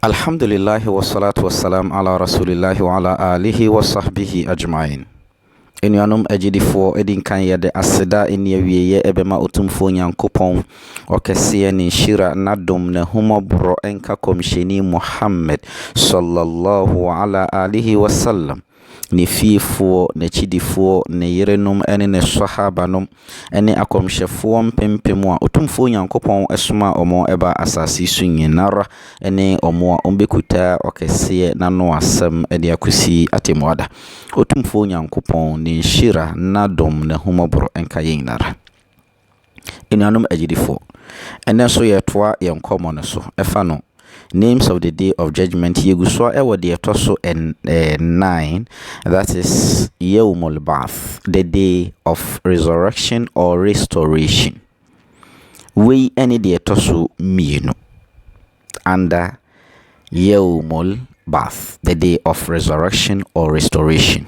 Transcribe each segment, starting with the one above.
Alhamdulillahi wa salatu wa salam ala rasulillahi wa ala alihi wa sahbihi ajma'in. Anuanom agyidifoɔ, ɛdi nkan yɛde aseda a ɛnni awieeɛ ɛbɛma Otumfoɔ Nyankopɔn Ɔkɛseɛ, Ne nhyira, N'adom, N'ahummɔborɔ nka Kɔmhyɛni Muhammad, sallallahu ala alihi wa sallam. ne fiefoɔ, n'akyidifoɔ, ne yerenom ne ne Swahaabanom ne akɔmhyɛfoɔ mpempem a Otumfoɔ Nyankopɔn somaa wɔn baa asaase yi so nyinara ne wɔn a wɔ'bekutaa Ɔkɛseɛ n'ano asɛm de akosi Atɛmua Da. Otumfoɔ Nyankopɔn ne nhyira, n'adom, n'ahummɔborɔ nka yɛn nyinara. Anuanom agyidifoɔ, ɛnnɛ nso yɛretoa yɛn nkɔmmɔ no so ɛfa no Names of the Day of Judgment Yɛgu so ara wɔ deɛ ɛtɔ so ɛn ɛɛ nnan that is Yawmul Ba'ath the day of resurrection or restoration Wei ɛne deɛ ɛtɔ so mmienu under Yawmul Ba'ath the day of resurrection or restoration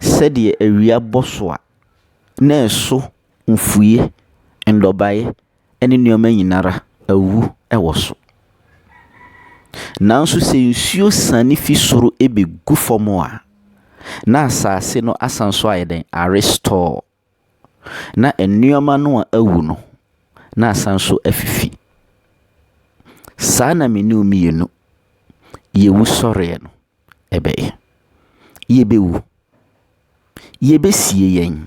sɛdeɛ awia bɔ so a na ɛso mfuie, nnɔbaeɛ ɛne nneɛma nyina ara awu wɔ so. Nanso sɛ nsuo siane fi soro bɛgu fam a, na asaase no asan so ayɛ dɛn? Arestore. na nneɛma no a awu no, na asan nso afifi. Saa na me ne wo mmienu, yɛn wusɔreɛ no bɛyɛ. Yɛbɛwu. Yɛbɛsie yɛn.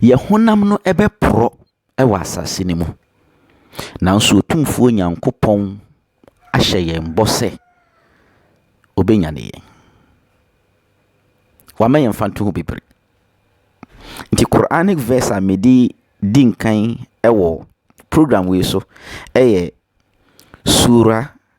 Yɛn honam no bɛporɔ wɔ asase no mu. Nanso Otumfoɔ Nyankopɔn ahyɛ yɛn bɔ sɛ ɔbɛnyane yɛn. Wama yɛn mfantoho bebree. Nti Quranic verse a mede di nkan wɔ program wei so yɛ Surah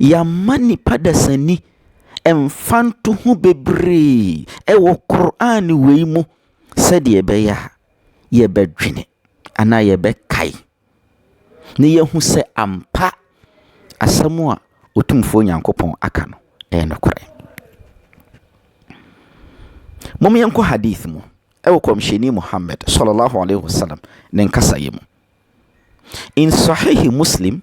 Yɛama nnipa dasani mfantoho bebree wɔ Qur'aan wei mu sɛdeɛ ɛbɛyɛ a yɛbɛdwene anaa yɛbɛkae na yɛahu sɛ ampa asɛm a Otumfoɔ Nyankopɔn aka no ɛyɛ nokorɛ. Mom yɛnkɔ hadith mu ɛwɔ Kɔmhyɛni Muhammad, Sallallahu Alaihi Wasallam, ne nkasaeɛ mu. In Sahihi Muslim,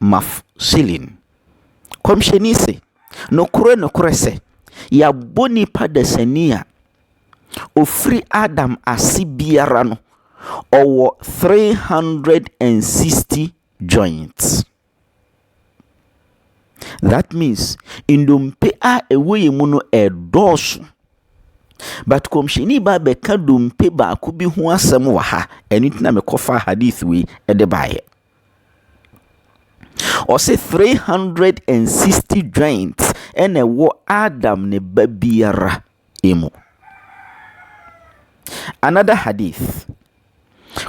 Maf. Silim. Kɔmhyɛni se, Nokore, nokore sɛ, Yɛabɔ nipa dasani a ɔfiri Adam ase biara no, ɔwɔ three hundred and sixty joints. That means, ndompe a ɛwɔ yɛn mu no ɛɛdɔɔso. But Kɔmhyɛni baa bɛka dompe baako bi ho asɛm wɔ ha, ɛno nti na mekɔfaa Hadith wei de baeɛ. Ɔse three hundred and sixty joints ɛna ɛwɔ Adam ne ba biara mu. Another hadith,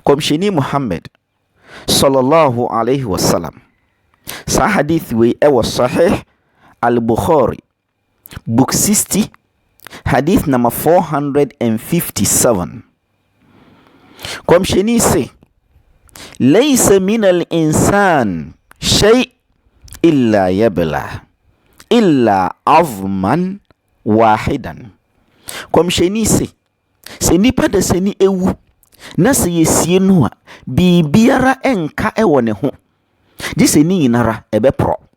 Kɔmhyɛni Muhammad sallallahu alaihi wasallam. Saa hadith wei ɛwɔ Sahih al-Bukhari. Book 60, Hadith number 457. Kɔmhyɛni se, Laysa min al-insan shay illa yabla illa azman wahidan. Kɔmhyɛni se, sɛ nipa da sɛ ni ewu na sɛ yɛsie no a biribiara nka wɔ ne ho gye sɛ ne nyinara ɛbɛporɔ.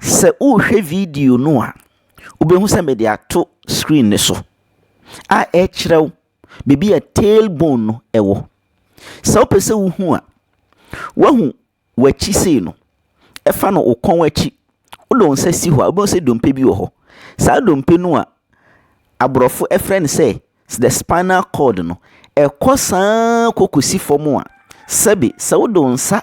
Sɛ worehwɛ video no a, wobɛhu sɛ mede ato screen no so a ɛrekyerɛ wo baabi a tail bone no wɔ. Sɛ wopɛ sɛ wohu a, woahu w'akyi sei no, ɛfa no wo kɔn akyi. Wode wo nsa si hɔ a, wobɛhu sɛ dompe bi wɔ hɔ. Saa dompe no a aborɔfo frɛ no sɛ the spinal cord no, ɛkɔ saa kɔkɔsi fam a, sɛbe sɛ wode wo nsa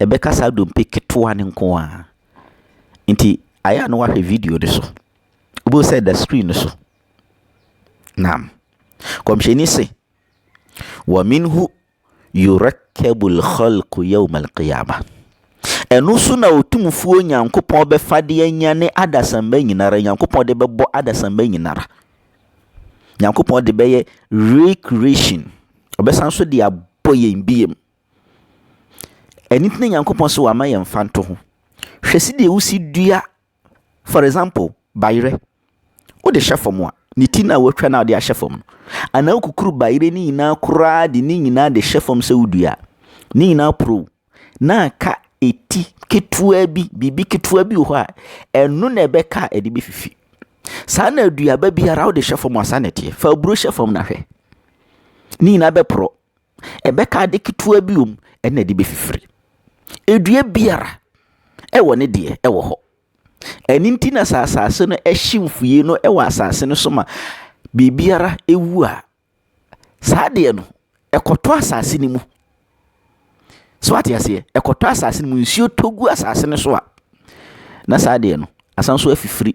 ɛbɛka saa dompe ketewa no nko ara. Nti ayɛ a na wahwɛ video no so. Wobɛhu sɛ ɛda screen no so. Naam. Kɔmhyɛni se, wa minhu yurakkabu lkhalku yauma alqiyama. Ɛno so na ɔtumfuo Nyankopɔn bɛfa de anyane adasamma nyinara. Nyankopɔn de bɛbɔ adasamma nyinara. Nyankopɔn de bɛyɛ recreation. Ɔbɛsan so de abɔ yɛn biem. Ɛno nti na Nyankopɔn se wama yɛn mfantoho. Hwɛ sɛdeɛ wosi dua for example bayerɛ. Wode hyɛ fam a, ne ti no a woatwa no a wode ahyɛ fam no, anaa wokukuru bayerɛ no nyinaa koraa de ne nyinaa de hyɛ fam sɛ wodua a, ne nyinaa porow na aka eti ketewa bi, biribi ketewa bi wɔ hɔ a, ɛno na ɛbɛka a ɛde bɛfifi. Saa na aduaba biara wode hyɛ fam a saa na ɛteɛ. Fa aburo hyɛ fam na hwɛ. Ne nyinaa bɛporɔ. Ɛbɛka ade ketewa bi wom ɛna ɛde bɛfifiri. Dua biara wɔ ne deɛ ɛwɔ hɔ. Ɛno nti na sɛ asase no hye mfuiɛ no wɔ asase no so ma biribiara wu a, saa adeɛ no ɛkɔtɔ asase no mu. So wate aseɛ? Ɛkɔtɔ asase no mu. Nsuo tɔ gu asase no so a, na saa adeɛ no asan nso afifiri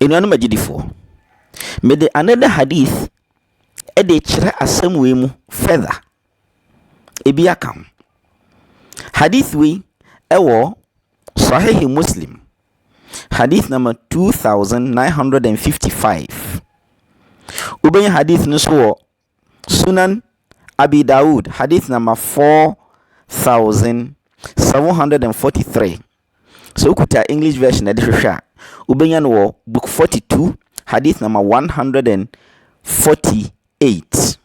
Anuanom agyidifoɔ, mede another hadith de kyerɛ asɛm wei mu further. Ebi aka ho. Hadith wei ɛwɔ Sahih Muslim, hadith number 2955. Wobɛnya hadith no nso wɔ Sunan Abi Dawud, hadith number 4743. Sɛ wokuta English version ɛde hwehwɛ a, wobɛnya no wɔ book 42, hadith number 148.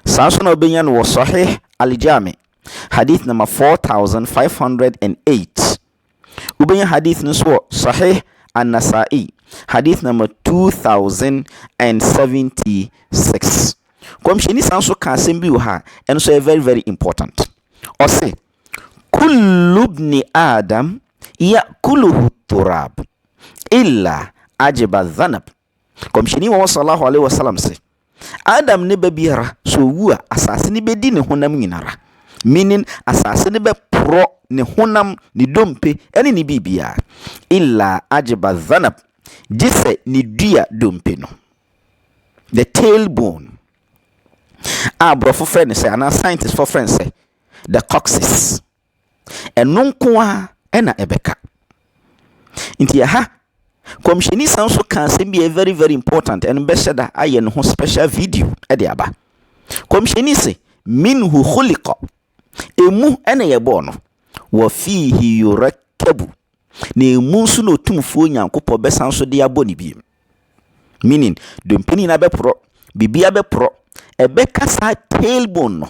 Saa nso na wobɛnya no wɔ Sahih Al-Jami, hadith number 4508. Wobɛnya hadith no nso wɔ Sahih An-Nasa'i, hadith number 2076. Kɔmhyɛni san so ka asɛm bi wɔ ha, ɛno nso yɛ very very important. Ɔse, Kullu ibni Adam ya'kuluhu turab illa ajiba dhanab. Kɔmhyɛni Muhammad sallallahu alaihi wasallam se, Adam ne ba biara, sɛ owu a, asase no bɛdi ne honam nyinara, meaning asase no bɛporɔ ne honam, ne dompe, ne ne biribiara, illa ajba dhanab, gye sɛ ne dua dompe no, the tail bone, a borɔfo frɛ no sɛ, anaa scientistfoɔ frɛ no sɛ, the coccyx. Ɛno nko ara na ɛbɛka. Nti ɛha, Kɔmhyɛni san so ka asɛm bi a ɛyɛ very very important, ɛno bɛhyɛ da ayɛ ne ho special video de aba. Kɔmhyɛni se, minhu khuliqa, ɛmu na yɛbɔɔ no, wa fiihi yurakkabu, na ɛmu nso na Otumfoɔ Nyankopɔn bɛsan so de abɔ ne biem. Meaning, dompe no nyinaa bɛporɔ, biribiara bɛporɔ, ɛbɛka saa tailbone no,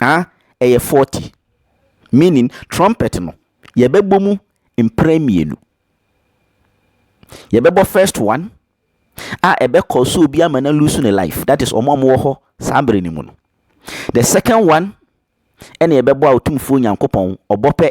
Ah, ɛyɛ forty. Meaning, trumpet no, yɛbɛbɔ mu mprɛ mmienu. Yɛbɛbɔ first one a ɛbɛkɔ so obi ama na lose ne life. That is, wɔn a wɔwɔ hɔ saa bere no mu no. The second one ɛna yɛbɛbɔ a Otumfoɔ Nyankopɔn ɔbɔ pɛ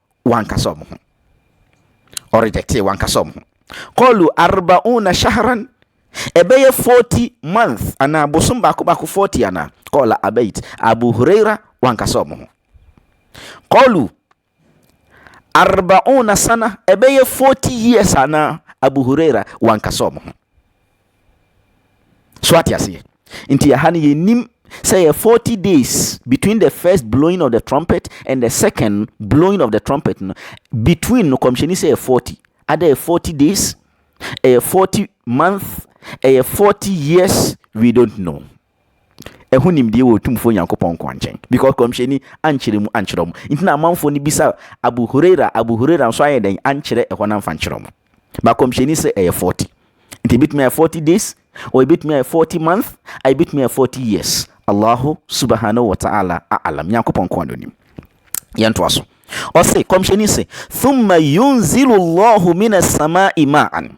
wankasa wɔn ho. Ɔ rejectee wankasa wɔn ho. Kɔlu arba'una shahran ɛbɛyɛ 40 month anaa bosom baako baako 40 anaa kɔla abait abu huraira wankasa wɔn ho. Kɔlu arba'una sana ɛbɛyɛ 40 years anaa abu huraira wankasa wɔn ho. So wate aseɛ? Nti ɛha no yɛnim sɛ yɛ 40 days between the first blowing of the trumpet and the second blowing of the trumpet no between no kɔmhyɛni sɛ yɛ 40 ada yɛ 40 days ɛyɛ 40 month ɛyɛ 40 years we don't know Ɛho nimdeɛ wɔ Otumfoɔ Nyankopɔn nkoa nkyɛn, because Kɔmhyɛni ankyerɛ mu ankyerɛ wɔn. Nti na amanfoɔ no bisa Abu Hurairah, Abu Hurairah nso ayɛ dɛn ankyerɛ ɛhɔ no amfa ankyerɛ wɔn. But Kɔmhyɛni se ɛyɛ forty. Nti ɛbɛtumi ayɛ forty days, or ɛbɛtumi ayɛ forty month, a ɛbɛtumi ayɛ forty years. Allahu Subahanahu wa Ta'ala A'alam. Nyankopɔn nkoa na onim. Yɛntoa so. Ɔse, Kɔmhyɛni se, Thumma yunzilu Allahu mina samaa'i ma'an.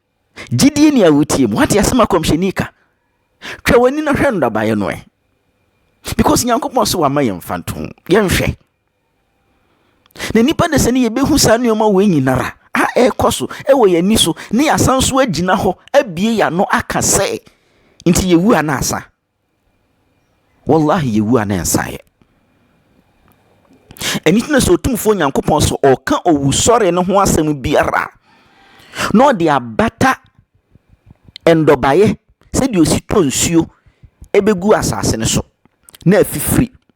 Gyidie ni a wotie mu wate asɛm a kɔmhyɛni ka twɛ w'ani na hwɛ nnabaeɛ no ɛ because nyankopɔn so wama yɛn mfa nto ho yɛnhwɛ na nipa de sɛ ne yɛbɛhu saa nneɛma wɔ nyinara a ɛrekɔ so ɛwɔ yɛn ani so ne yɛasan so agyina hɔ abie yɛn ano aka sɛ nti yɛwu a na asa Wallahi yɛ wu a ne nsa yɛ. Ɛno nti na sɛ Otumfoɔ Nyankopɔn so ɔka owusɔre no ho asɛm biara na ɔde abata nnɔbaeɛ sɛdeɛ ɔsi tɔ nsuo ɛbɛgu asase no so na afifiri.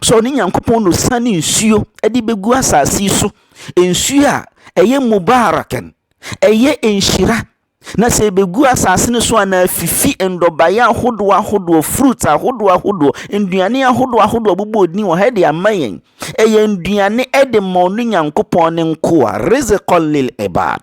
sɛ ɔne Nyankopɔn na osiane nsuo de bɛgu asase so, nsuo a ɛyɛ mubarakan, ɛyɛ nhyira, na sɛ ɛbɛgu asase no so a na afifi nnɔbaeɛ ahodoɔ ahodoɔ, fruits ahodoɔ ahodoɔ, nnuane ahodoɔ ahodoɔ bobɔ din wɔ ha de ama yɛn. Ɛyɛ nnuane de ma ɔno Nyankopɔn ne nkoa, rizqan lil ibad.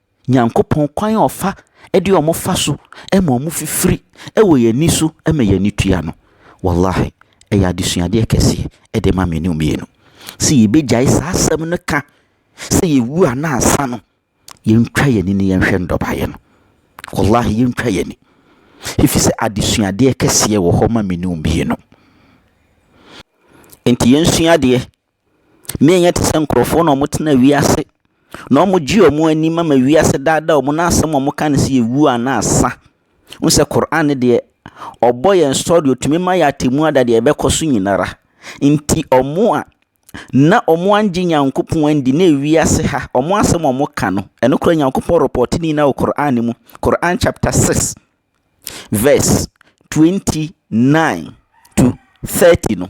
Nyankopɔn kwan a ɔfa de wɔn fa so ma wɔn fifiri wɔ yɛn ani so ma yɛn ani tua no wallahi ɛyɛ adesuadeɛ kɛseɛ ɛde ma mmienu mmienu sɛ yɛbɛgyae saa asɛm no ka sɛ yɛwu a na ansa no yɛntwa yɛn ani ne yɛnhwɛ ndɔbaeɛ no wallahi yɛntwa yɛn ani ɛfiri sɛ adesuadeɛ kɛseɛ wɔ hɔ ma mmienu mmienu nti yɛnsua adeɛ Menyɛ te sɛ nkurɔfoɔ na wɔtena wiase na wɔgye wɔn ani ma ma wiase daadaa wɔn na asɛm a wɔka ne sɛ yɛwuo anaa sa. Wohu sɛ Qur'aan no deɛ, ɔbɔ yɛn story, ɔtumi ma yɛ atɛmmu ada deɛ ɛbɛkɔ so nyina ara. Nti wɔn a na wɔn angye Nyankopɔn andi na ewiase ha, wɔn asɛm a wɔka no, ɛno koraa Nyankopɔn repɔɔte ne nyinaa wɔ Qur'aan no mu. Qur'aan chapter 6 verse 29 to 30 no.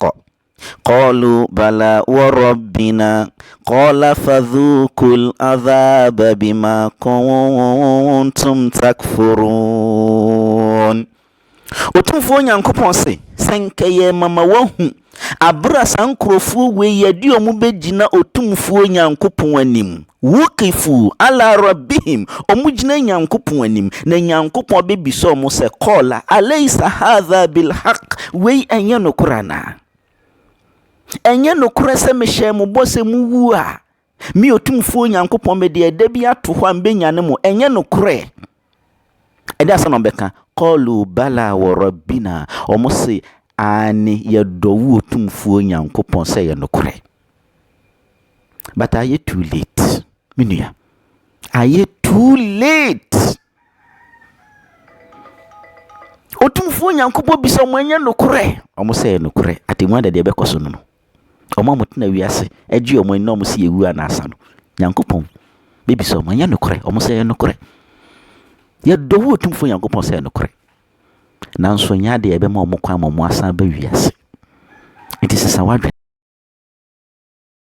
kɔ. Kɔlu bala wɔ rɔbina kɔla fadhukul adhaba bima kuntum takfurun. Otumfuo Nyankopɔn se, sɛ nka yɛ mama wahu abere a saa nkurɔfoɔ wei yɛde wɔn bɛgyina Otumfuo Nyankopɔn anim Wuqifuu alaa Rabbihim, wɔgyina Nyankopɔn anim, na Nyankopɔn bebisa wɔn sɛ, Qala, Alaysa haadhaa bil-haqq, wei ɛnyɛ nokorɛ anaa? Ɛnyɛ nokorɛ sɛ mehyɛɛ mo bɔ sɛ mowu a, Me Otumfoɔ Nyankopɔn mede ɛda bi ato hɔ a mebɛnyane mo, ɛnyɛ nokorɛ? Ɛdeɛ asɛn na wɔn bɛka? Kɔɔluu balaa wɔ rɔbinaa, wɔn se aane yɛdɔ wo otumfuo Nyankopɔn sɛ ɛyɛ nokorɛ. But ayɛ too late me nua, ayɛ too late. Otumfuo Nyankopɔn bisa wɔn ɛnyɛ nokorɛ? Wɔn se ɛyɛ nokorɛ, atɛmmuo adɛdeɛ bɛkɔ so no no. Wɔn a wɔtena wiase gye wɔn ani na wɔse yɛwu a na asa no, Nyankopɔn bɛbisa wɔn, ɛnyɛ nokorɛ? Wɔn sɛ ɛyɛ nokorɛ. Yɛdɔ wo Otumfoɔ Nyankopɔn sɛ ɛyɛ nokorɛ. Nanso ɛnyɛ adeɛ a ɛbɛma wɔn kwan ma wɔasan aba wiase. Nti sesa w'adwene.